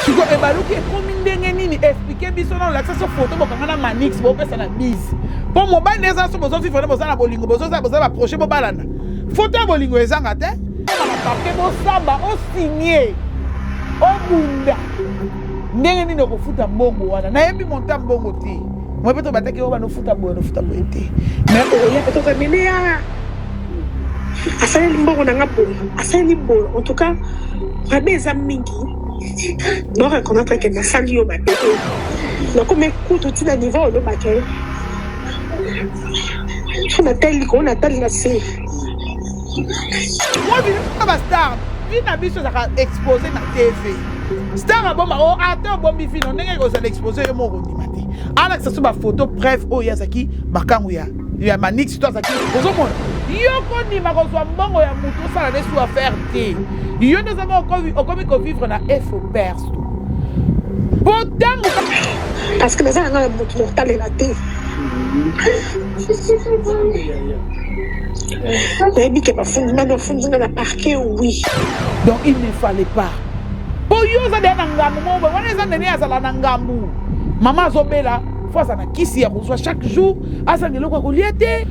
sikoyo ebaluki ekomi ndenge nini explike biso na olakisa so foto bokanga na manix bopesa na bise mpo mobali na eza so bozozwi vraimen boza na bolingo bozoza boza baproche bobalana foto ya bolingo ezanga te papie bosamba osigne obunda ndenge nini okofuta mbongo wana nayebi monta mbongo te moi mpe tobataki oyo banofuta boye nofuta boye te mais oya mpe toza milia asaleli mbongo na nga boye asaleli boye en tout cas rabe eza mingi no reconnaître que nasali yo mabe te nakomi kutu ntina niveau olobaka ye so natali likolo natali na se bastar vi na biso ezaka expose na tv star abomba o oh, ata obombi vino ndenge ekozala expose yo moko ondima te alakisa so bafoto preuve oyo azalaki makango ya ya manix to azaki ozomona yo kondima kozwa mbongo ya moto osala nde su affaire te yo nde ozama okomi kovivre na efo perso po ntango parce que naza nanga na moto motalela te nayebi ke bafundi nani ofundi nga na parke oui donc il ne fallait pas po yo oza deya na ngambo moko wana eza nene azala na ngambo mama azobela fo aza na kisi ya kozwa chaque jour azanga eloko ya kolia te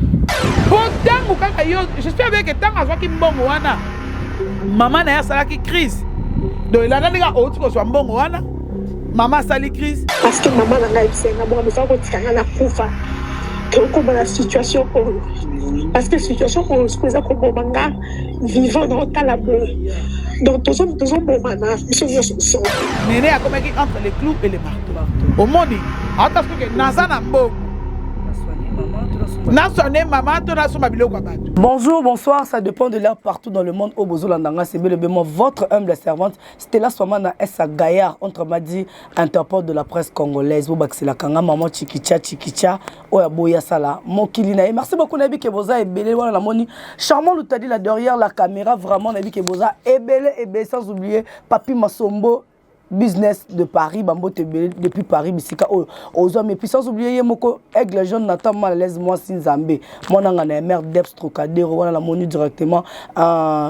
po ntango kaka yo jespère beke ntango azwaki mbongo wana mama na ye asalaki crise donc elanda ndenge outi kozwa mbongo wana mama asali crise parceke mama na ngai ayebisa nga bonga mosala kotika nga na kufa tokoma na situation oyo parceke situation oyo siko eza koboma nga vivant na otala boye donc tozobomana biso nyonso nso nene akomaki entre le clou et le marteau omoni aotasi koke naza na mbongo nasone mama to nasomba biloko ya bato bonjour bonsoir ça dépend de l'heure partout dans le monde oyo bozolanda nga sebelebemo votre humble servante stella swama na esa gaillard entre madi interport de la presse congolaise bobakiselaka nga maman chikicha chikicha oyo aboyi asala mokili na ye merci beaucoup nayebi ke boza ebele wana namoni charmant lutadi la derrière la caméra vraiment nayebi ke boza ebele ebele sans oublier papi masombo business de paris bambote ebele depuis paris bisika oyo ozwami epuis sans oublier ye moko aigle jaune natan mal alaise mwasi nzambe mwananga na ya mare deps trocadero wana namoni directement uh,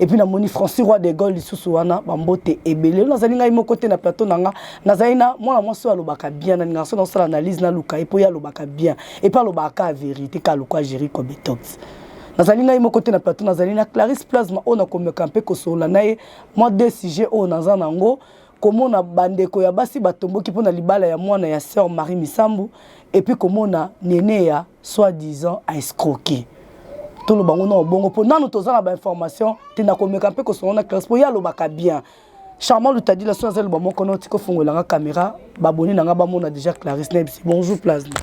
et puis namoni François Roi de Gaulle lisusu wana bambote ebele nazali ngai moko te na plateau na nga nazali na mwana mwasi oyo alobaka bien na ningaka soki nasala analyse naluka ye mpo ye alobaka bien epe alobaka kaka verité kaka lokwa géri cobetox nazali ngai moko te na plateau nazali na clarisse plasma oyo nakomeka mpe kosolola na ye mwa de sujet oyo naza na yango komona bandeko ya basi batomboki mpo na libala ya mwana ya sœur marie misambu epuis komona nene ya soit disant a escroquer toloba ngo na obongo mpo nanu toza na bainformation te nakomeka mpe kosongo na classe mpo ye alobaka bien charmant lutadila so aza loba moko noti kofongola nga caméra baboni na nga bamona déjà clarisse nayebisi bonjour plasma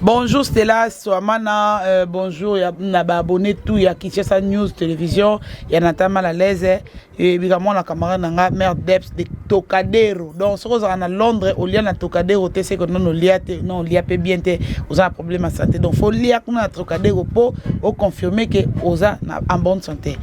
Bonjour Stella Swamana, euh, bonjour ya, na ba abonné tout ya Kinshasa News Télévision, ya Natama la Leze, eyebika eh, mwana camarade na nga mère deps de tokadero donc soki ozalaka na londres olia na tokadero te seke non olia te non olia mpe bien te oza na problème ya santé donc fo lia kuna na tokadero mpo oconfirme ke oza na en bonne santé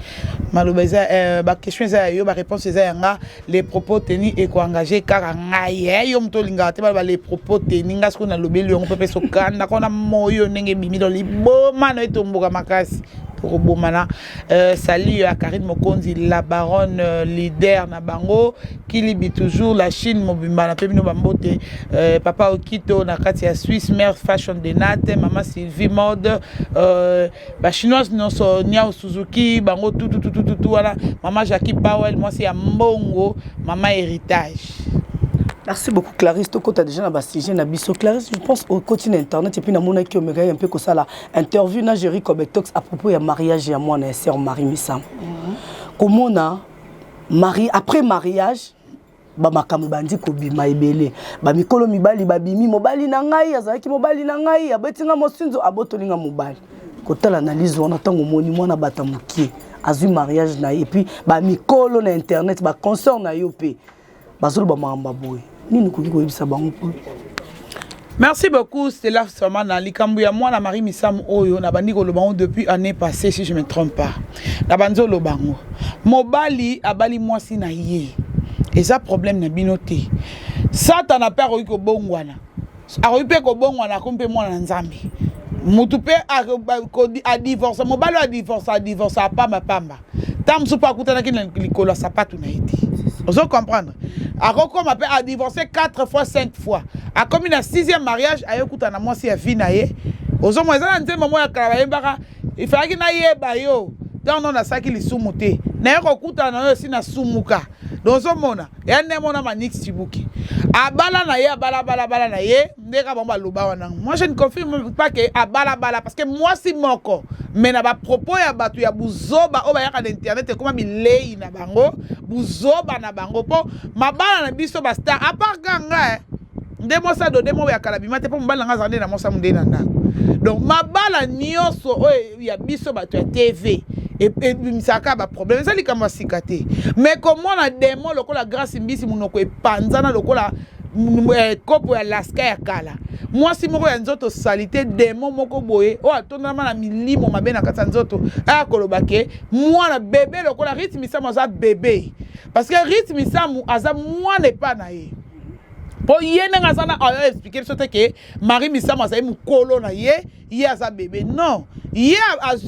maloba eza euh, baquestion eza ya yo baréponse eza ya nga les propos teni ekoengage kaka ngai e eh, yo moto olingaka te baloba les propos teni ngai soki nalobeli yango mpe mpe sokanda kona moyo ndenge ebimi donc liboma na etomboka makasi tokobomana Euh, salut à Karine Mokonzi, la baronne euh, leader na bango, Kilibi toujours, la Chine mobimba na pemino bambote, euh, papa Okito na kati ya Suisse, mère fashion de Nate, maman Sylvie mode, euh, ba chinoise nionso Niao Suzuki, bango tout tout tout tout tout, tout voilà, maman Jackie Powell, moi c'est ya Mbongo, maman héritage. Merci beaucoup Clarisse, tu as déjà dans le sujet na biso. Clarisse, je pense au côté internet et puis na mona ki omega un peu comme ça là. interview na Jerry Kobetox à propos ya mariage ya mwana ya sœur Marie Misamu mhm. komona mari après mariage bamakambo ebandi kobima ebele bamikolo mibali babimi mobali na ngai azalaki mobali na ngai abeti nga mosinzo abotoli nga mobali kotala analyse wana ntango omoni mwana bata mokie azwi mariage na ye epuis bamikolo na internet baconsort na yo mpe bazoloba makambo ya boye nini okoki koyebisa bango mpo merci beaucoup stela samana likambo ya mwana marie misamu oyo nabandi koloba yango depuis année passée si je me trompe pas nabanzi oloba yango mobali abali mwasi na ye eza problème na bino te satana mpe akoki kobongwana akoki mpe kobongwana akomi mpe mwana na nzambe motu mpe adivorce mobali oyo adivorce adivorce apambapamba ntango mosusu mpe akutanaki na likolo ya sapatu na ye te ozo comprendre akokoma mpe adivorce 4 fois 5 fois akomi na 6e mariage ayokutana na mwasi ya vie na ye ozomona eza na nzembo moko ya kala bayembaka ifalaki nayeba yo ntango no nasalaki lisumu te naye kokutana na yo esi nasumuka dozomona ya nde mona manix cibuki abala na ye abala balabala na ye nde kaka bango baloba wana moi je ne confirme pas ke abalabala parce que mwasi moko me na bapropos ya bato ya buzoba oyo bayaka na internet ekoma bilei na bango buzoba na bango mpo mabala na biso bastar apart ka nga eh, nde mosa dode moko ya kala bima te mpo mobali na nga azala nde na mosa mo nde na ndako donc mabala nyonso oyo ya biso bato ya tv ebimisaka baproblème eza likambo ya sika te mais komona demo lokola grace mbisi monoko epanzana lokola eh, kopo ya laska ya kala mwasi moko ya nzoto salite demo moko boye oyo atondama na milimo mabe na kati ya nzoto aya koloba ke mwana bebe lokola rite misamu aza bebe parce que rite misamu aza mwana epa na ye mpo ye ndenge aza na ayo explike biso te ke marie misamu azali mokolo na ye ye aza bebe non ye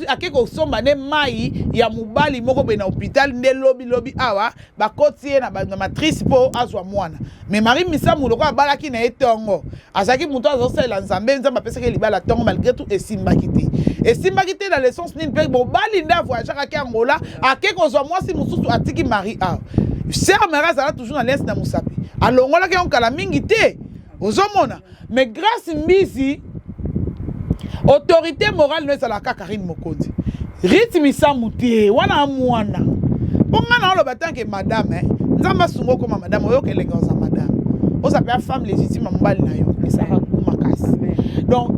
ake kosomba nde mai ya mobali moko boye na hôpital nde lobi lobi awa bakoti ye na matrice mpo azwa mwana me marie misamu lokola abalaki na ye ntongo azalaki moto azosalela nzambe nzambe apesaki ye libala ntongo malgré tout esimbaki te esimbaki te na lessence nini mpe mobali nde avoyageaka ake angola ake kozwa mwasi mosusu atiki marie awa ser marie azala toujours na lese na mosapi alongolaki yango kala mingi te ozomona mais grace mbizi autorité morale no ezala kaka karine mokonzi rite misamu te wana mwana mpo ngai na oloba tanke madame eh, nzambe asunga okoma madame oyoka elenge oza madame oza mpe afemme légitime ya mobali na yo esaka makasi donc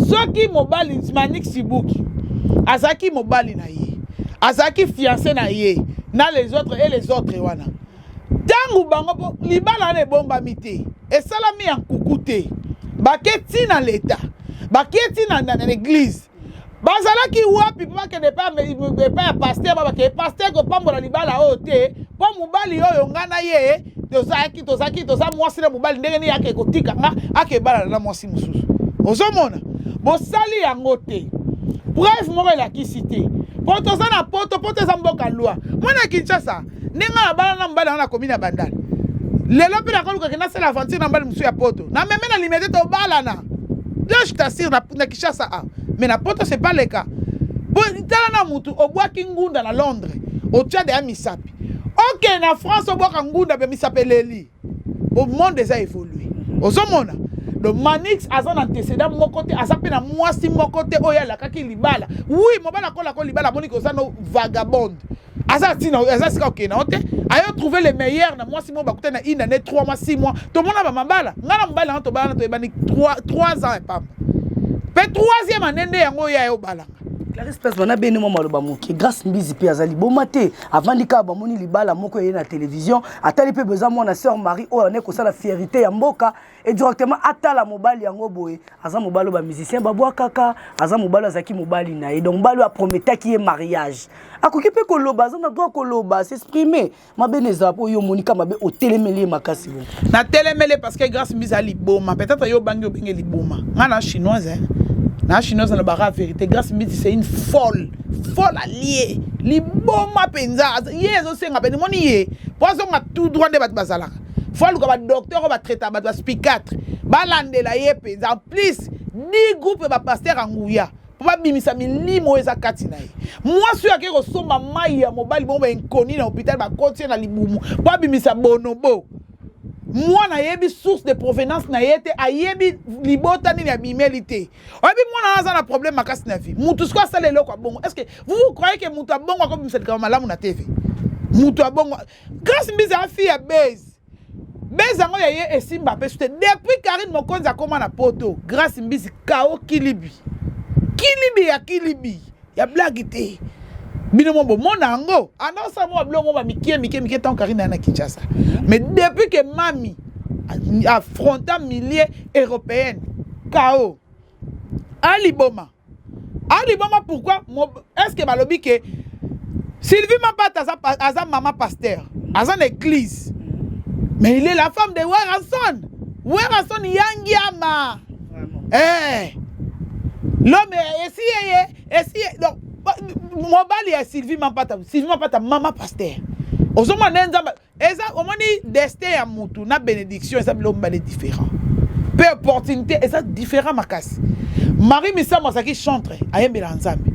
soki mobali manik sibuki azalaki mobali na ye azalaki fiancé na ye na les autres et les autres wana ntango bango mpo libala wana ebombami te esalami ya nkuku te bake ti na leta bake ti na, na, na eglize bazalaki wapi mpo bakende epai ya paster babake paster kopambola libala oyo te mpo mobali oyo ngai na ye tozalaki tozalaki toza mwasi na mobali ndenge nini ake kotika nga ake ebalana na mwasi mosusu ozomona bosali yango te preuve moko elakisi te mpo toza na poto poto eza mboka lwa mwana kinshasa nde ngai nabala na mobali yango na komi na bandal lelo mpe nakolukake nasala aventure na mobali mosusu ya poto na meme na limete tobalana de je t'assure na, na kishasa a ah. mais na poto c'est pas le cas mpo tala na motu obwaki ngunda na londres otya deya misapi okende na france obwaka ngunda mpe misapi eleli bo monde eza évoluer ozomona le manix aza na antecédent moko te aza mpe na mwasi moko te oyo alakaki libala wi mobala akolako libala amoni koza no vagabonde aza ntina aza sika okende yango te ayo trouve le meilleur na mwasi moko bakuta na une année 3 mois 6 mois tomona bamabala ngai na mobali yango tobalana toyebani 3 ans epamba mpe 3e année nde yango oyo ayo obalanga clarisse place bana bene mwa maloba moke grace mbizi mpe aza liboma te avandi kaka bamoni libala moko eye na televizio atali mpe boza mwana sœur marie oyo ane kosala fierité ya mboka e directement atala mobali yango boye aza mobali oyo bamusicien babwakaka aza mobali azalaki mobali na ye donc mobali oyo aprometaki ye mariage akoki mpe koloba aza na droit koloba s'exprime mabe na ezala mpo yo omonika mabe otelemeli ye makasi bo natelemeli parce que grâce mbisa liboma peut-être yo obangi obenge liboma ngai na chinoise na chinoise alobaka verité grâce mbisi c'est une folle fola lie liboma mpenza ye ezosenga mpe nimoni ye mpo azonga tout droit nde bato bazalaka fo aluka badoktere oyo batraitaka bato baspicatre balandela ye mpenza en plus di groupe ya bapaster ya nguya mpo babimisa milimo oyo eza kati na ye mwasi oyo akei kosomba mai ya mobali bongo bainkoni na hôpital bakoti ye na libumu mpo abimisa bonobo mwana ayebi source de provenance na ye te ayebi libota nini abimeli te oyebi mwana wana aza na problème makasi na vie motu sikoyo asala eloko ya bongo est ce que vous vous croyez ke motu ya bongo akobimisa likambo malamu na tv motu ya bongo grace mbizi ya fille ya base base yango ya ye esimba mpe sute depuis karine mokonzi akóma na poto grace mbizi kao kilibi kilibi ya kilibi ya blague te bino mo bomona yango anasala mwa biloko ba mikie mikie mikie ntango karine aya na kinshasa mais depuis que mami affronta milieu européenne kao aliboma aliboma pourquoi est ce que balobi ke sylvie mapata aza, aza mama pasteur aza na église mais il est la femme de werrason werrason yangiama eh l'homme esi yeye esi donc mobali ya sylvie mampata sylvie mampata mama pasteur ozomona nde nzambe eza omoni destin ya mutu na bénédiction eza biloko mibale différent mpe opportunité eza différent makasi marie misamu azalaki chantre ayembelaka nzambe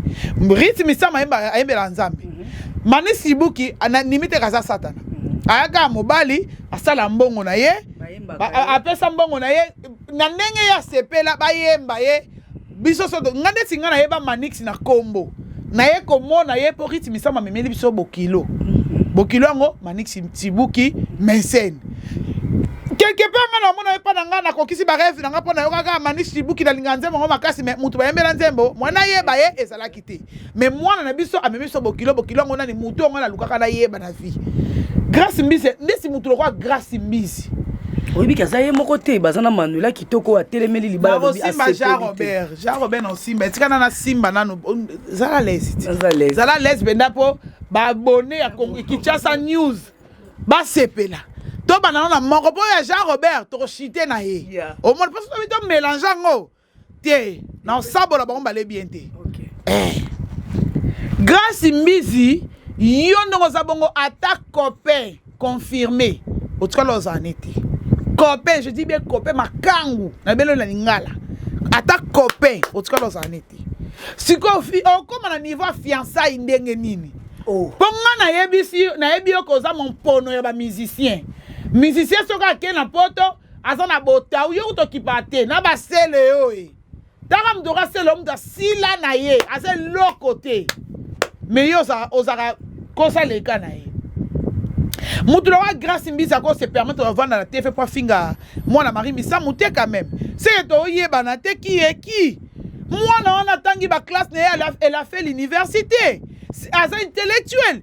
rite misamu ayembelaka nzambe mhm. mani sibuki ananimi te kaza satana mhm. ayaka mobali asala mbongo na ye apesa mbongo na ye na ndenge ye asepela bayemba ye biso soto nga ndeti nga nayeba manix na kombo naye komona ye mpo ritme sama amemeli biso bokilo mhm. bokilo yango manix tibuki mensene quelque part nga namona epa na ngai nakokisi bareve na ngai mpo nayokaka manix tibuki nalingaka nzembo yango makasi me moto bayembela nzembo mwana ayeba ye ezalaki te mais mwana na biso amemi biso bokilo bokilo yango nani motu yango nalukaka nayeba na vie grace mbisi mbisi motu lokola grace mbisi oyebiki aza ye moko te baza na manuela kitoko atelemeli libalaosimba jean robert jean robert na osimba etikana na simba nanu zala lese zala lese mpenza mpo baabone ya kinshasa news basepela tobanda nano na moko mpo ya jean robert tokoshite na ye omoni mpo soki tomélange yango te na osabola bango mbale bien te okay. eh. grace mbizi yo ndenge oza bongo ata copain confirme otikala ozala ne te copain je dis bien copain makangu na belo na lingala ata copain otikala ozala ne te sikoyo okóma na niveau ya fiançai ndenge nini oh. mpo ngai nayebisi nayebi yo koza mompono ya bamusicien musicien soki akei na poto aza na botau yo kutu okipa te na basele yo e tanga moto okasele yo moto asila na ye aza eloko te me ye ozalaka kosa leka na ye moto lokola grace mbisa ko se permettre ovanda na tv mpo afinga mwana marie misamu te quand même seke toyebana te kiye ki mwana wana atangi baklasse na ye elle a fait l'université aza intellectuel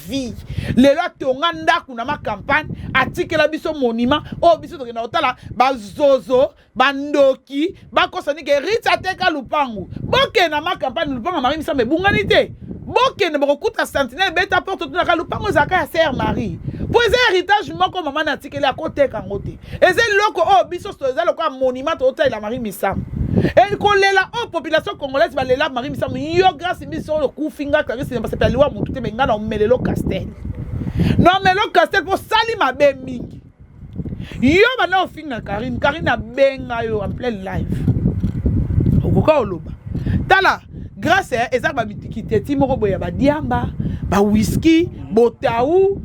vie lelo atonga ndako na macampagne atikela biso monima oyo oh, biso tokenda kotala bazozo bandoki bakosani ke rite ateka lupangu bokende na macampagne lupangu ya marie misambo ebungani te bokende bokokuta sentinelle beta porte otunaka lupangu ezalaka ya sere marie mpo eza héritage moko mama na atikeli akoteka yango te eza eloko oyo oh, biso eza lokola monument tozotalela marie misamu e kolela oyo oh, population congolaise balela marie misamu yo grâce biso oyo okufi nga clarisse basepela liwa motu te me nga na omelelo castel na omelelo castel mpo osali mabe mingi yo banda ofinga karine karine abenga yo en plein live okoka oloba tala grace eh, eza ba mitikiteti moko boye ya badiamba ba whisky botau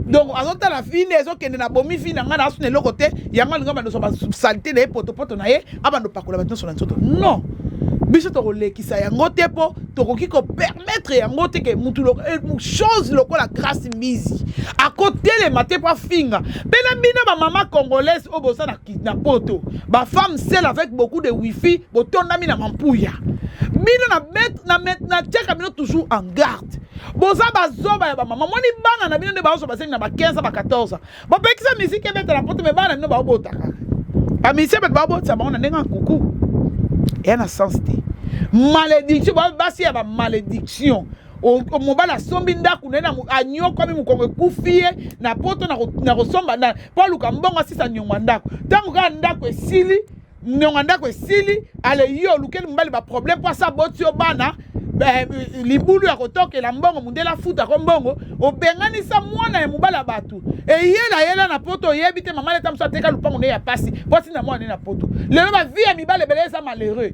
donc azotala fi nde ezokende na bomi fi na ngai na asuna eloko te yango alinga bandoso basalite na ye potopoto na ye abando pakola bato nyonso na nzoto non biso tokolekisa yango te mpo tokoki kopermettre yango te ke mutu eh, chose lokola grace mbizi akotelema te mpo afinga mpe na bino bamama congolaise oyo boza na na poto ba femme seule avec beaucoup de wifi botondami na mampuya bino na bet na met na tiaka bino toujours en garde boza bazoba ya bamama moni bana na bino nde baozo basengi na ba 15 ba 14 bapekisa miziki ebeta na poto me bana na bino baobotaka bamiziki ebeta baobotisa bango na ndenge ya kuku eya na sens te malédiction basi ya bamalédiction mobali asombi ndako na ye anyokwami mokongo ekufi ye na poto na kosomba mpo aluka mbongo asisa nyongo ndako ntango kaka ndako esili nyongo ndako esili ale yo olukeli mobali baproblème mpo asa boti yo bana eh, libulu ya kotokela mbongo mondele afuta ko mbongo obenganisa mwana ya mobali ya bato eyela yela na poto oyebi te mama leta mosu ateka lopango ne ya mpasi mpo atinda mwana ne na poto lelo bavie ya mibali ebele eza malheureux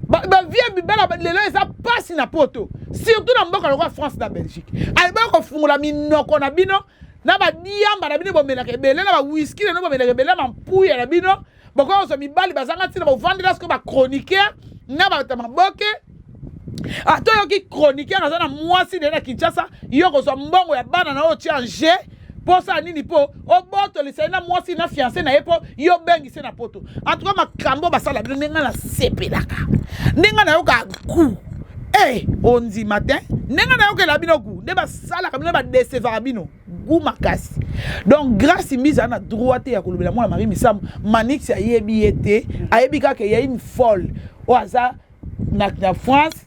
bavie ya mibali lelo eza pasi na poto surtout na mboka lokola france na belgique alibaki kofungola minoko na bino na badiamba na bino bomelaka ebele na bawiski na bino bomelaka ebele na bampuya na bino bokoki kozwa mibali bazanga ntina bovandela sikoyo bachroniqueur na bata maboke ata ah, oyoki chroniqueur aza na mwasi naye na kinshasa yo kozwa mbongo ya bana na oyo otya nje mpo osala nini mpo obotolisa ye na mwasi na fianse na ye mpo yo obengi se na poto antuka makambo basala bino ndenge nasepelaka ndenge nayoka gu e eh, ondima te ndenge nayokela bino gu nde basalaka bino badesevaka bino gu makasi donc grace mbiza na droit te ya kolobela mwana marie misamu manix ayebi ye te ayebi kaka eyai mfole oyo aza na, na france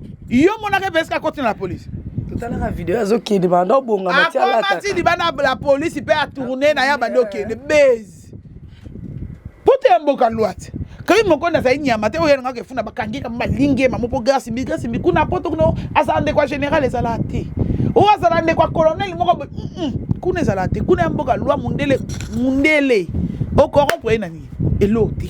yo monaka epeska koti na polisi totalaka video azokende banda obonga matialakomati libanda la polisi mpe atourne na ya bandi okende base poto ya mboka lwate kaki mokondi azali nyama te oyo yango kefuna bakangi kama balingi mamo mpo grasi mbi grasi mbi kuna poto kuna azala ndeko ya général ezala te oyo azala ndeko ya colonel moko kuna ezala te kuna ya mboka lwa mundele mundele okoronpre ye na nini elo te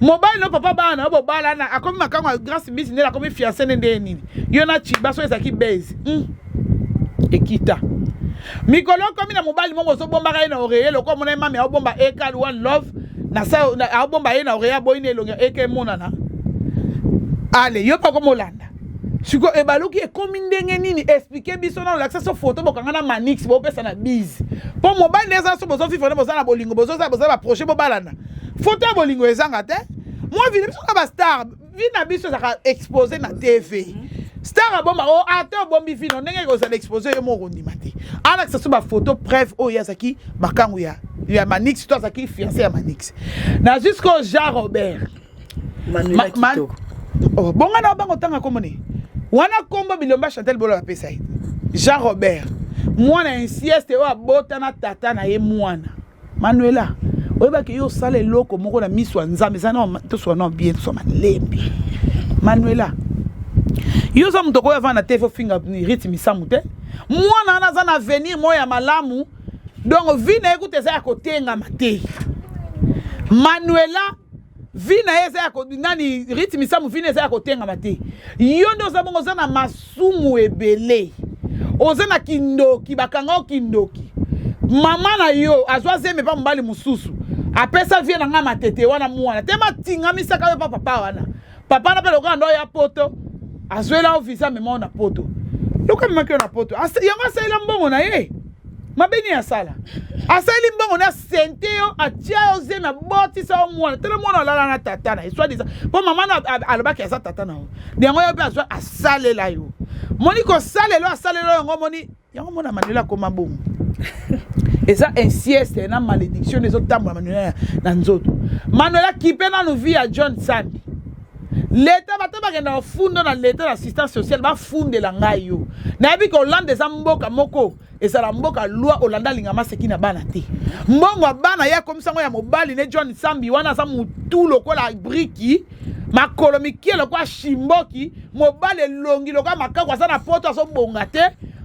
mobali no papa bana na bobalana akomi makango ya grace mbisi ndele akomi fiance nde ndeye nini yo na chiba so ezalaki base mm. ekita mikolo okomi na mobali moko ozobombaka ye na oreye lokola omona ye mami aobomba ekal one love na sa aobomba ye na oreye aboyi na elongi eke emonana ale yo mpe okomi olanda sikoyo ebaluki ekomi ndenge nini explike biso na olakisa so foto bokanga na manix bopesa na bise mpo mobali nde eza so bozofifana boza na bolingo bozoza boza baproche bobalana foto ya bolingo ezanga te mwa vile biso na bastar vi na biso ezalaka expose na tv mhm. star abomba o oh, ata ah, obombi vino ndenge ekozala expose yo moko ondima te alakisa so bafoto preuve oyo ye azalaki makango ya ya manix to azalaki fiance ya manix na jusqu'au jean robert oh, bonga na obango ntanga komone wana kombo bilomba chantel bolo bapesa ye jean robert mwana insieste oyo abota na tata na ye mwana manuela oyebaka yo osala eloko moko na miso ya nzambe eza na toswa na bien toswa malembe manuela yo oza moto okoyo avanda te fofinga rite misamu te mwana wana aza na avenir moko ya malamu donc vi na ye kuta eza ya kotengama te manuela vie na ye eza ya nani rite misamu vie na eza ya kotengama te yo nde oza bongo oza na masumu ebele oza na kindoki bakanga yo kindoki mama na yo azwa zeme mpa mobali mosusu apesa vie na ngai matete wana mwana te matingamisaka yo mpa papa wana papa na mpe lokola ndo ya poto azwela yo visa amema yo na poto lokola amemaki yo na poto yango asalela mbongo na ye mabe nini asala asaleli mbongo na sente yo atia yo zemi abotisa yo mwana tala mwana alala na tata na ye swadisa mpo mama na alobaki aza tata na yo yango yo mpe azwa asalela yo moni kosalela asalela yango moni yango mona manuela akoma bongo eza insieste na malédiction nde ezotambola manuela na nzoto manuela kipe nanu vie ya john sandi leta bata bakenda bafunda na leta na assistance sociale bafundela ngai yo nayebi ke olanda eza mboka moko ezala mboka lwa olanda alinga maseki na bana te mbongo ya bana ye akomisa yango ya mobali ne john sambi wana aza motu lokola briki makolo mikie lokola shimboki mobali elongi lokola makaku aza na poto azobonga te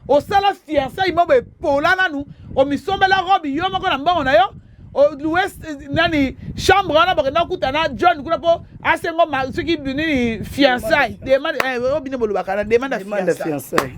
osala fiansai moko epola nanu omisombela robe yo moko na mbongo na yo olue nani chambre wana bakenda kokuta na john kuna mpo asengo soki nini fiansai demande eh, obine bolobaka na demande ya fiansai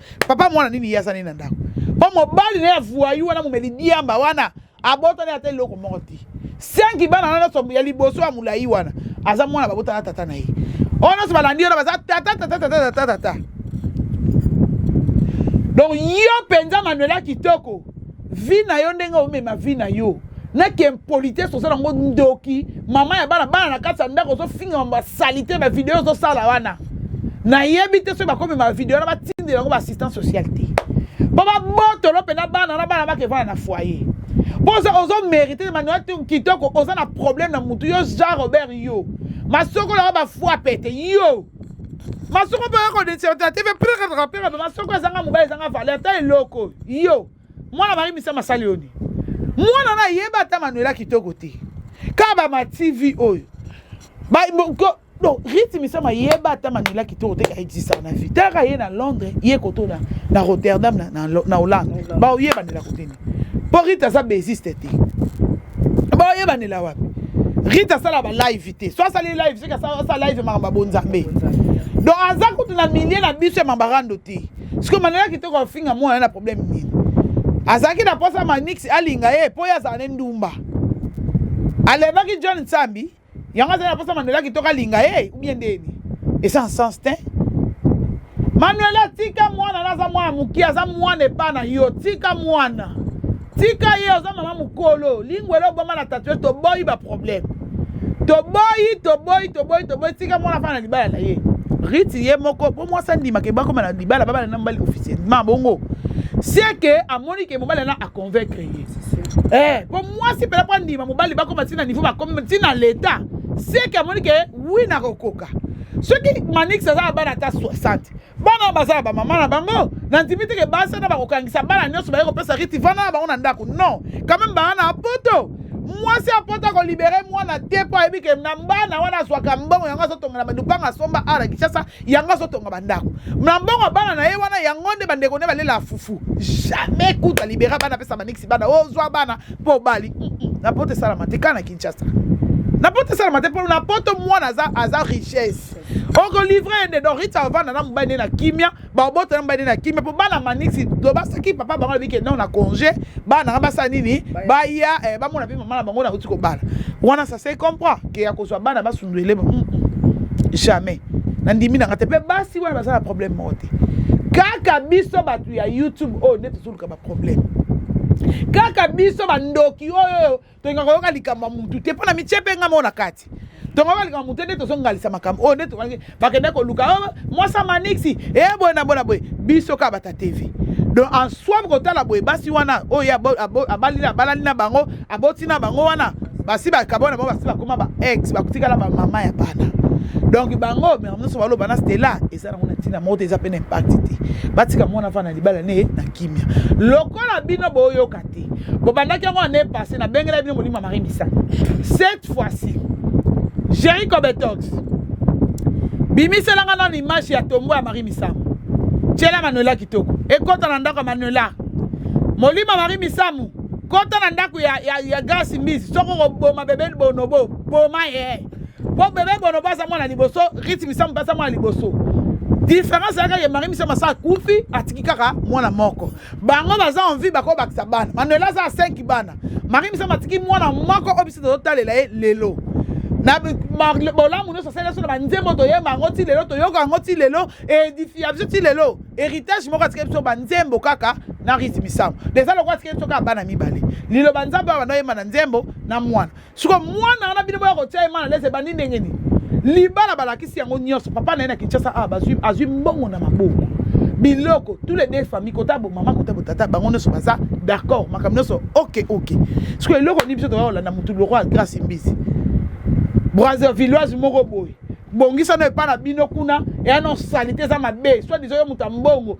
papa mwana nini ye aza nini na ndako mpo mobali na ye avuayu wana momeli diamba wana abotani ata eloko moko te senki bana na nyonso ya liboso ya molai wana aza mwana babota na tata na ye oyo nyonso balandi wana baza tata tata tata tata tata donc yo mpenza manuela kitoko vie na yo ndenge omema vie na yo na kiimpolitesse oza nango ndoki mama ya bana bana na kati ya ndako ozofinga mambo ya salite bavideo ozosala wana nayebi te soki bakomema bavideo na batindela yango baassistance sociale te mpo babotolo mpena bana na bana bakevana na foyer mpo ozomérite manuel kitoko oza na problème na motu yo jean robert yo masoko na yo bafwa pete yo masoko mpe yakodeserta te mpe prekataka mpe kaba masoko ezanga mobali ezanga vale ata eloko yo mwana marie misa masali yo nini mwana na yeba ata manuela kitoko te kaba ma tv oyo donc rite misama yeba ata manila kitoko te aexistaka na vie taka ye na londres ye koto na, na rotterdam na, na, na hollande baoyebanela koteni mpo rite aza besiste te baoyebanela wapi rite asala balive te so asali live soki asala live makambo ya bonzambe donc aza kutu na milie na biso ya mabarando te sikoyo manela kitoko afinga mwana na problème nini azalaki na mposa manix alinga ye mpo ye azala ne ndumba alevaki john nsambi yango azali na mposa manela kitoko alinga ye ubien ndeni eza nsens te manuela tika mwana na aza mwana moke aza mwana epa na yo tika mwana tika ye oza mama mokolo lingwele oboma na tatue toboyi baproblème toboyi toboyi toboyi toboyi tika mwana afana na libala na ye riti ye moko mpo mwasi andimaka ebakoma na libala babala na mobali officiel ma bongo seke amoni ke mobali ana aconvaincre ye eh, mpo mwasi mpela mpo andima mobali bakoma ntina niveau bakomi ntina leta seke amoni ke wi nakokoka soki manix aza na bana ata 60 bana baza ya bamama na bango nandimi te ke basi wana bakokangisa bana nyonso baye kopesa riti vana na bango na ndako non quand même bana na poto mwasi ya poto akolibere mwana te mpo ayebi ke na bana wana azwaka mbongo yango azotongela bandupanga asomba ara kinshasa yango azotonga bandako na mbongo bana na ye wana yango nde bandeko nde balela fufu jamais kutu alibera bana apesa baniksi bana ozwa oh, bana mpo obali mm, mm. na poto esalama te kaka na kinshasa na poto esalama te mpo na poto mwana aza richesse oko livre ye nde donc rite avanda na mobali nde na kimia babota na mobali nde na kimia mpo bana manisi to basaki papa bango alobi ke non na congé bana nanga basala nini baya eh, bamona mpe mama na bango nakuti kobala wana ça se comprend ke ya kozwa bana basundwele mm, mm. jamais nandimi nanga te mpe basi wana baza na problème moko te kaka biso bato ya youtube oyo nde tozoluka baproblème kaka biso bandoki oyo tolingaka koyoka likambo ya mutu te mpo na mitie mpe nga moko na kati tongoka likambo motu nde tozongalisa makambo oyo oh, nde tokaki bakende koluka oh, mwasa manixi e eh, boye na boye na boye biso kaka bata tv donc en soi bokotala boye basi wana oyo oh, abalina abalani na bango aboti na bango wana basi bakabo na bango basi bakoma ba ex bakotikala bamama ya bana donc bango mera nyonso baloba na stela eza nango na ntina moko te eza mpe na impakti te batika mwana afana libala ne na kimia lokola bino boyoka te bobandaki yango année passé nabengelaki bino molimo ya marie misa cette fois-ci géri cobetox bimiselanga nano image ya tombo ya marie misamu tyela manuela kitoko ekɔta na ndako ya manuela molimo ya marie misamu kɔta na ndako ya, ya, ya grasi mbisi soko koboma bebe bonobo boma ye mpo bebe bonobo aza mwana liboso riti misamu mpe aza mwana liboso diference yaka ye marie misamu asa akufi atiki kaka mwana moko bango baza envie bako bakisa bana manuela aza 5 bana marie misamu atiki mwana moko oyo biso tozotalela ye lelo na bolamu nyonso asali biso na banzembo toyemba yango ti lelo toyoka yango ti lelo edifia biso ti lelo héritage moko atikeli biso banzembo kaka na risi misamu eza lokola atikeli biso kaka bana mibale liloba nzambe oyo banda oyemba na nzembo na mwana siko mwana wana bino boya kotia ye mana lese ebandi ndenge nini libala balakisi yango nyonso papa na ye na kinshasa awa ah, azwi mbongo na maboko biloko tous les deux famille kota bo mama kota bo tata bango nyonso baza d'accord makambo nyonso ok ok siko eloko nini biso toya kolanda motu loko ya grace mbisi brasilloise moko boye bongisana epai na bino kuna eya no salite eza mabe soit diso yo moto ya mbongo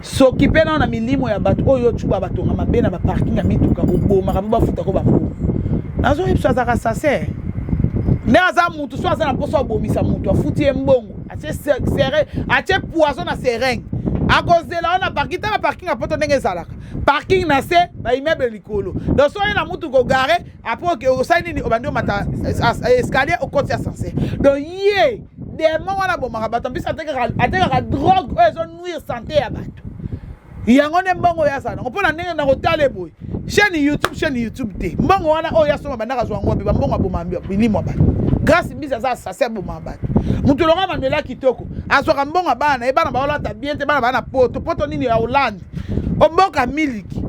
sokipe nao na milimo ya bato oyo ocuba batonga mabe na baparking ya mituka obomaka mpo bafutako bambongo nazoyebisa azalaka sase nde aza motu so aza na mposa obomisa motu afuti ye mbongo atie poison na sereng akozela wana parking tala parking ya poto ndenge ezalaka parking na se baimmeuble likolo donc soki na mutu kogare apres osali nini obandi omata escalier okoti ascenseur donc ye demo wana abomaka bato mpisi atekaka drogue oyo ezonuire sante ya bato yango nde mbongo oyo azala nango mpo na ndenge nakotala eboye chaîne youtube chaîne youtube te mbongo wana oyo asomba bandaka azwa yango wapi bambongo aboma bilimo ya bato grâce mbisi aza asase aboma bato moto longa manuela kitoko azwaka mbongo ya bana na ye bana baolata bien te bana baa na poto poto nini ya hollande oboka miliki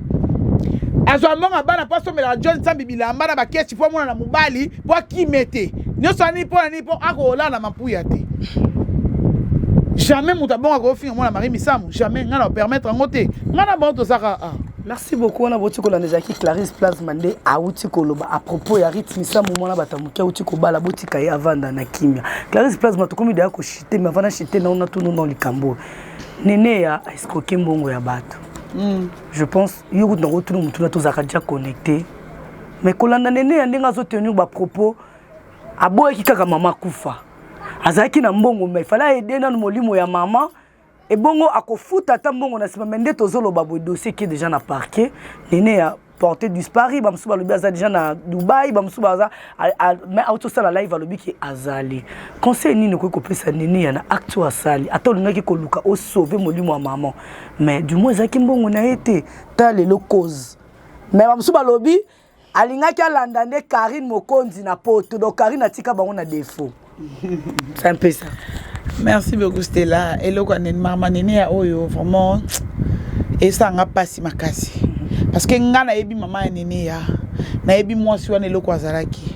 azwa mbongo ya bana mpo asombelaka john nsambi bilamba na bakesi mpo amona na mobali mpo akime te nyonso ya nini mpo na nini mpo akolala na mapuya te jamais moto abonga kofinga mwana marie misamu jamais ngai na opermettre yango te ngai na bango tozaka ah. merci beaucoup wana bauti kolanda ezalaki clarisse plasma nde auti koloba à propos ya rite misamu mwana bato ya moke auti kobala botika ye avanda na kimia clarisse plasma tokomi deya koshite me avanda shite nao natunu nao likambo oyo Neneya a escroquer mbongo ya batu. Mm. Je pense yo kutu na kotuna mutuna tozalaka déjà connecté. Mais kolanda Neneya ndenge azo tenir ba propos aboyaki kaka mama kufa. Azalaki na mbongo mais fallait aider nanu molimo ya mama ebongo akofuta ata mbongo na sima mais nde tozoloba boye dossier qui est déjà na parquet Neneya porte disparu bamosusu balobi aza deja na dubai bamosusu baza mai auti osala live alobi ke azali conseil nini okoki kopesa nini ya na acte oyo asali ata olingaki koluka osauve molimo ya maman mais du moins ezalaki mbongo na ye te ta lelo cause mai bamosusu balobi alingaki alanda nde karine mokonzi na poto donc karine atika bango na defaut C'est un peu ça. Merci beaucoup Stella. Eloko nene mama nene ya oyo vraiment esanga pasi makasi. Parce que nga nayebi mama ya nene ya nayebi mwasi wana eloko azalaki.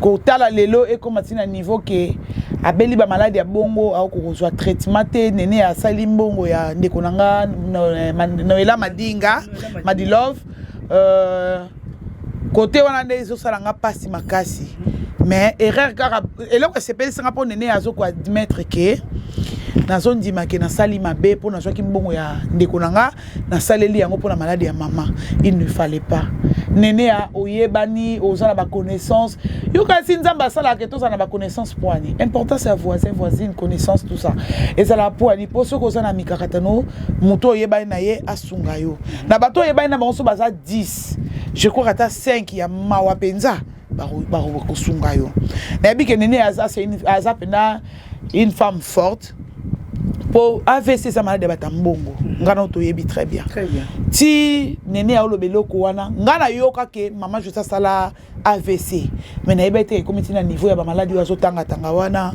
Kotala lelo ekoma tina niveau ke abeli ba malade ya bongo au kozwa traitement te nene asali mbongo ya ndeko na nga Noela Madinga Madilove euh kote wana nde ezosala nga mpasi makasi mais erreur kaka eloko esepelisi nga mpo nene azokoa admettre ke nazondima ke nasali mabe mpo nazwaki mbongo ya ndeko na nga nasaleli yango mpo na maladi ya mama il ne fallait pas nene ya oyebani oza na baconnaissance yo kasi nzambe asalaka ke tozala na baconnaissance poani importance ya voisin voisine connaissance tout ça ezalaka poani mpo soki oza na mikakatano moto oyebani na ye asunga yo na bato oyebani na bango so baza 10 je crois ata 5 ya mawa mpenza bakosunga yo nayebi ke nene aza aza mpenza une femme forte mpo avc eza maladi ya bato ya mbongo ngai nao toyebi très bien ti nene aoloba eloko wana ngai nayoka ke mama jose asala avc mais nayebaki te ekomi ti na niveau ya bamaladi oyo azotangatanga wana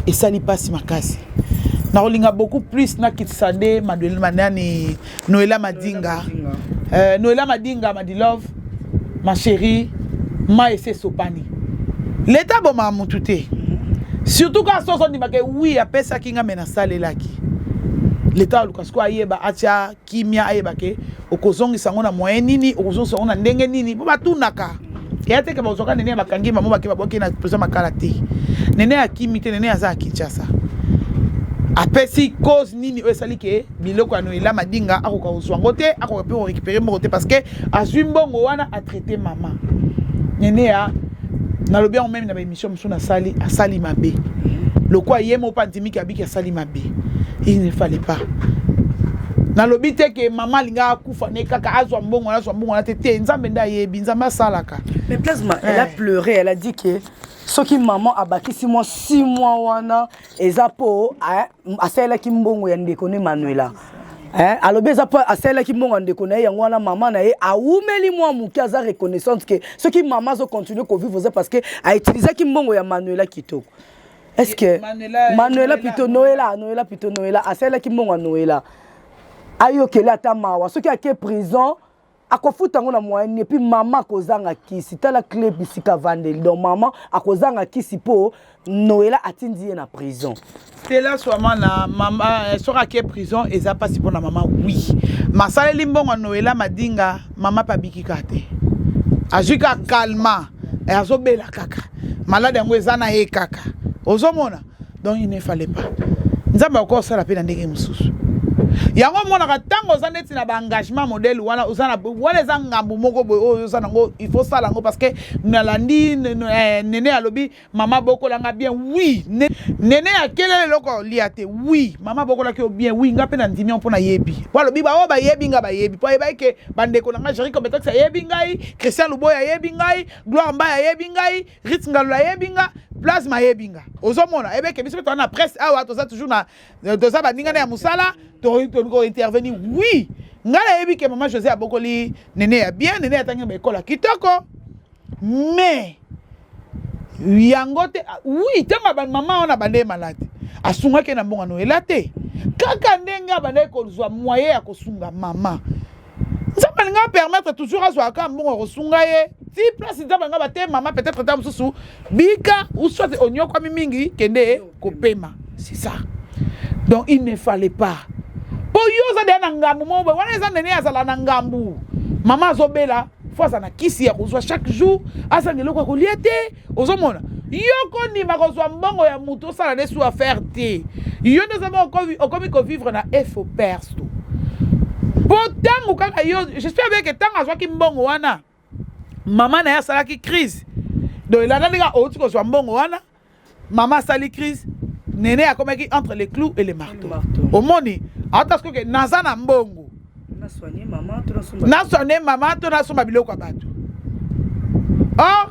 esali mpasi makasi nakolinga beaucoup plus nakitisa nde manani noela madinga euh, noela madinga madilove ma chérie ma ese esopani leta abomaa motu te surtout kaka soki ozondimaka wi apesaki nga me nasalelaki leta aluka sikoyo ayeba atya kimia ayeba ke okozongisa yango na moyen nini okozongisa yango na ndenge nini mpo batunaka eya teke bazwaka nene ya bakangi mamo bake babwaki na president makala te nene akimi te nene aza ya kinshasa apesi cause nini oyo esali ke biloko ya noela madinga akoka kozwa yango te akoka mpe korekipere mbongo te parce que azwi mbongo wana atraite mama nene ya nalobi yango meme na Mission mosusu nasali asali mabe lokola ye moko mpe andimi ke abiki asali mabe il ne fallait pas nalobi te ke mama alingaka akufa ne kaka azwa mbongo wana azwa mbongo wana te te nzambe nde ayebi nzambe asalaka mais plasma elle a eh. pleure elle a dit ke soki mama abakisi mwa 6 mois wana eza mpo eh, asalelaki mbongo ya ndeko ne manuela eh, alobi eza mpo asalelaki mbongo ya ndeko na ye yango wana mama na ye awumeli mwa moke aza reconnaissante ke soki mama azocontinue kovivre oza parce que autilisaki mbongo ya manuela kitoko est ce que manuela, manuela pito noela noela pito noela asalelaki mbongo ya noela ayokeli ata mawa soki ake prison akofuta yango na moyen nini epuis mama akozanga kisi tala cle bisika vandeli donc mama akozanga kisi mpo noela atindi ye na prison stela swama na mama eh, soki ake prison eza mpasi mpo na mama wi masaleli mbongo noela madinga mama mpe abiki kaka te azwi kaka kalma eh, azobela kaka malade yango eza na ye kaka ozomona donc il ne fallait pas nzambe akoki kosala mpe na ndenge mosusu yango omonaka ntango oza neti na baengagement modele wana oza na wana eza ngambo moko boye oyo oza nango il faut sala yango parce que nalandi eh, nene alobi mama bokolanga bien wi nene akelela eloko lia te wi mama bokolaki yo bien wi nga mpe na ndimi mpo nayebi po alobi baoyo bayebi nga bayebi mpo ayebaki ke bandeko na ngai jeriko betokisi ayebi ngai christian luboy ayebi ngai gloire mbai ayebi ngai Rit Ngalula ayebi nga plasma ayebi nga ozomona ayebeke biso mpe toza na presse awa toza toujours na euh, toza baninga na ya mosala tointervenir oui ngai nayebi ke mama josé abokoli nene ya bien nene atangi na baekola kitoko mais yango te ah, oui ntango abandi mama wana abandeye malade asungaki na mbongano ela te kaka ndenge abandaki kozwa moye ya kosunga mama nzambe alinga apermettre toujours azwaka kaka mbongo ya kosunga ye ti place nzambe alinga bate mama peut-être ta mosusu bika ou soit onyokwami mingi kende kopema c'est ça donc il ne fallait pas mpo yo oza deya na ngambu moko boye wana eza nene azala na ngambu mama azobela fo azala na kisi ya kozwa chaque jour azanga eloko ya kolia te ozomona yo kondima kozwa mbongo ya moto osala nde su affaire te yo nde oza moko okomi kovivre na efo perso mpo ntango kaka yo jespère bien ke ntango azwaki mbongo wana mama na ye asalaki crise donc elandani kaka outi kozwa mbongo wana mama asali crise nene akomaki entre le clou et le marteau omoni ata soki naza na mbongo naswane mama to nasomba biloko ya bato or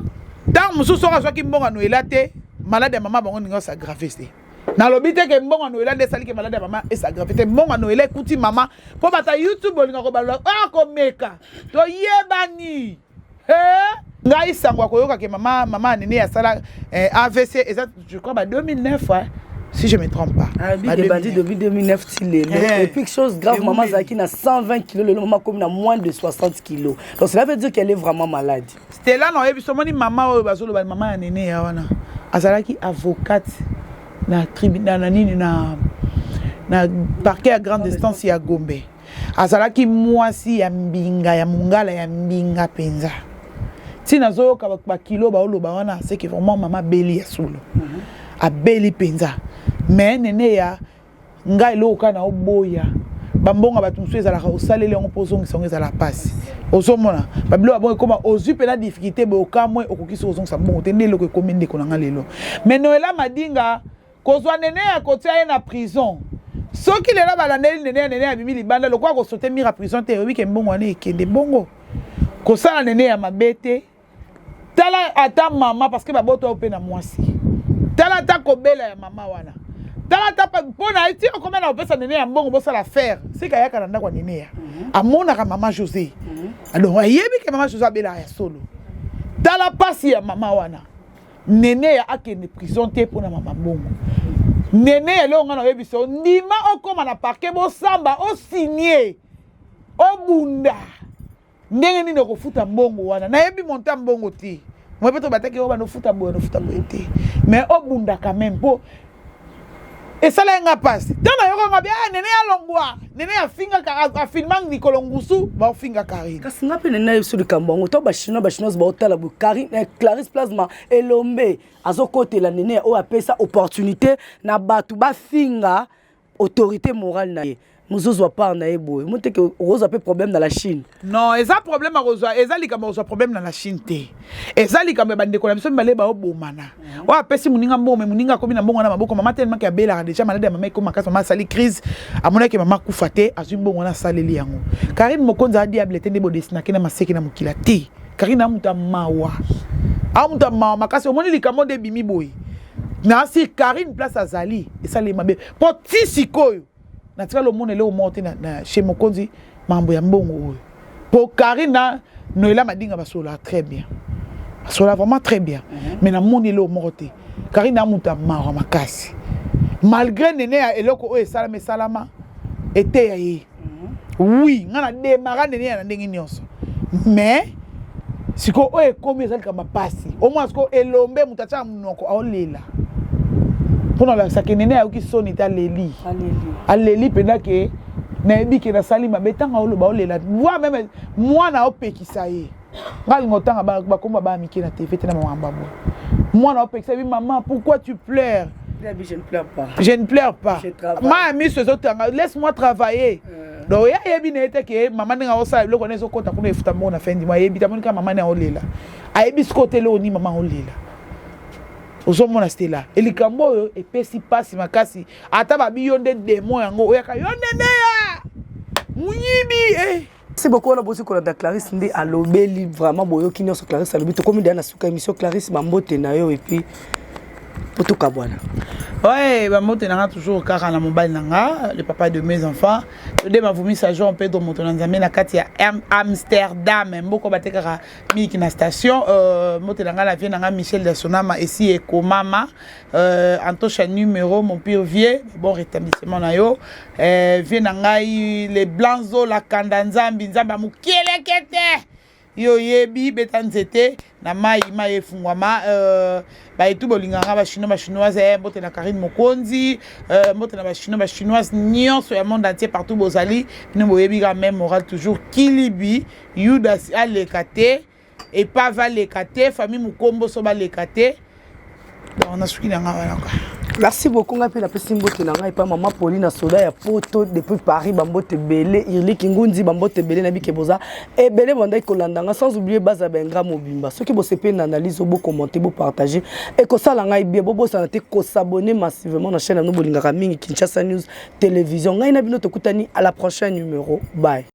ntango mosusu soki azwaki mbongo noela te malade ya mama bango ndenge osagrave te nalobi te ke mbongo noela nde esaliki malade ya mama esagrave te mbongo noela ekuti mama mpo bata youtube olingaka kobalola akomeka ah, toyebani Hey! ngai sango akoyoka ke mama mama anene asala eh, avc eza je crois ba 2009 hein? si je me trompe pas ah, bandi depuis 2009 ti lelo eh. et puis chose grave maman azalaki na 120 kilo lelo maman akomi na moins de 60 kilo donc cela veut dire qu'elle est vraiment malade stela na oyebi somoni mama oyo bazoloba mama ya nene ya wana azalaki avocate na tribunal na nini na na parquet ya grande instance ya gombe azalaki mwasi ya mbinga ya mongala ya mbinga mpenza ntina azoyoka bakilo baoloba wana seke vraiment mama abeli ya solo mhm. abeli mpenza me nene ya ngai eloko kaka na oboya bambonga bato mosusu ezalaka osaleli yango mpo ozongisa yango ezala mpasi ozomona babilo babongo ekoma ozwi mpena difficulté boye okamwe okoki soki ozongisa mbongo te nde eloko ekomi ndeko na ngai lelo me noela madinga kozwa neneya kotia ye na prison soki lelo balandeli neneya neneya abimi libanda lokola kosote mira prison te oyebi ke mbongo wana ekende bongo kosala neneya mabe te tala ata mama parceke babota oyo mpe na mwasi tala ata kobela ya mama wana tala ata mpo na ti okomi na kopesa nene ya mbongo bosala faire sika ayaka na ndako ya nene ya mhm. amonaka mama josé mhm. donc ayebi ke mama josé abelaka ya solo tala mpasi ya mama wana neneya akende prison te mpo na mama bongo neneya eloko ngai naoyebisa yo ndima okóma na parke bosamba osinie obunda ndenge nini okofuta mbongo wana nayebi monta mbongo te moi mpe tobataki yo bana ofuta boye nofuta boye te mais obundaka meme mpo esalaki nga mpasi ntango nayoka nga bia ah, nene ya longwa nene afingaka afilma mikolo ngusu baofinga karine kasi nga mpe nene yebiso likambo yango ntango bachinois bachinoise baotala boye karine eh, clarisse plasma elombe azokotela nene oyo apesa opportunité na bato bafinga autorité morale na ye mozozwa part na ye boye moteke okozwa mpe problème na la chine non eza problème akozwa eza likambo akozwa problème na la chine te eza likambo ya bandeko na biso mibale baobomana mhm. oyo apesi moninga mbongo me moninga akomi na mbongo na maboko mama telemaki abelaka deja maladi ya mama ekoma makasi mama asali crise amonaki mama akufa te azwi mbongo wana asaleli yango karine mokonzi a diable te nde bodesinaki na maseki na mokila te karine amuta mawa amuta mawa makasi omoni likambo nde ebimi boye nasi karine place azali esali mabe mpo ti sikoyo natikali omona eloko moko te na chez mokonzi mambo ya mbongo oyo mpo karine na noela madinga basolola très bien basolola vraiment très bien mhm. mais namoni eloko moko te karine amuta mawa makasi malgré nene ya eloko oyo esalama esalama eteya ye oui nga na demara ndenge ya na ndenge nyonso mais sikoyo oyo ekomi eza likambo mpasi omona sikoyo elombe moto atyaka monoko aolela mpo na olakisa ke nene ayoki soni te aleli aleli mpenza ke nayebi ke nasali mabe ntango aoloba olela voi meme mwana aopekisa ye nga linga otanga bakomba baa mike na tv te na makambo yango mwana opekisa bi maman pourquoi tu pleure je ne pleure pas je ne pleure pas ma miso ezotanga laisse moi travailler euh. donc ye ayebi na ye te ke mama ndenge akosala biloko na ezokota kuna efuta mbongo na fin dima ayebi te amoni kaka mama nde aolela ayebi sikoyo te eloko nini mama aolela ozomona stela elikambo oyo epesi mpasi makasi ata babi yo nde demo yango oyaka yo nde ndeya moyibi eh. Merci beaucoup wana bozi kolanda Clarisse nde alobeli vraiment boyoki nyonso Clarisse alobi tokomi deya na suka émission Clarisse bambote na yo epuis po tokabwana oye bambote na nga toujours kaka na mobali na nga le papa de mes enfants tode mavumisa jean pedro moto na nzambe na kati ya amsterdam mboko batekaka miliki na station euh, mbote na nga na vie na nga michel dasonama esi ekomama Euh, Antosha numéro, mon pire vieux, bon rétablissement na yo. Euh, vieux na ngai, les blancs zo la kanda nzambi, nzamba mukielekete. Yo yebi beta nzete na mai mai efungwama euh, bayetu bolinga nga bachinois bachinoise eh, mbote na karine mokonzi euh, mbote na bachinois bachinoise nyonso ya monde entier partout bozali bino boyebi ka meme moral toujours kilibi yudas aleka te epave aleka te famille mokomboso baleka te donc nasuki na ngai wana ka merci beaucoup ngai mpe napesi mbote na ngai epa mama poli na soda ya poto depuis paris bambote ebele irliki ngunzi bambote ebele na bike boza ebele bandaki kolanda ngai sans oublie baza bengra mobimba soki bosepeli na analyse oyo bokommente bopartage ekosala ngai bie bobosana te kosabone massivement na chaîne yano bolingaka mingi kinshasa news télévision ngai na bino tokutani à la prochaine numéro bye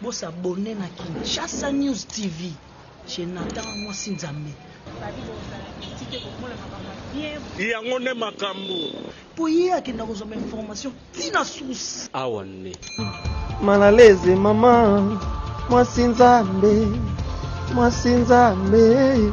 Bo s'abonner na Kinshasa News TV chez Nathan Mwasi Nzambe. Yango nde makambo. Po ye akenda kozwa ba information ti na source. Awa nde. Mal à l'aise maman Mwasi Nzambe Mwasi Nzambe.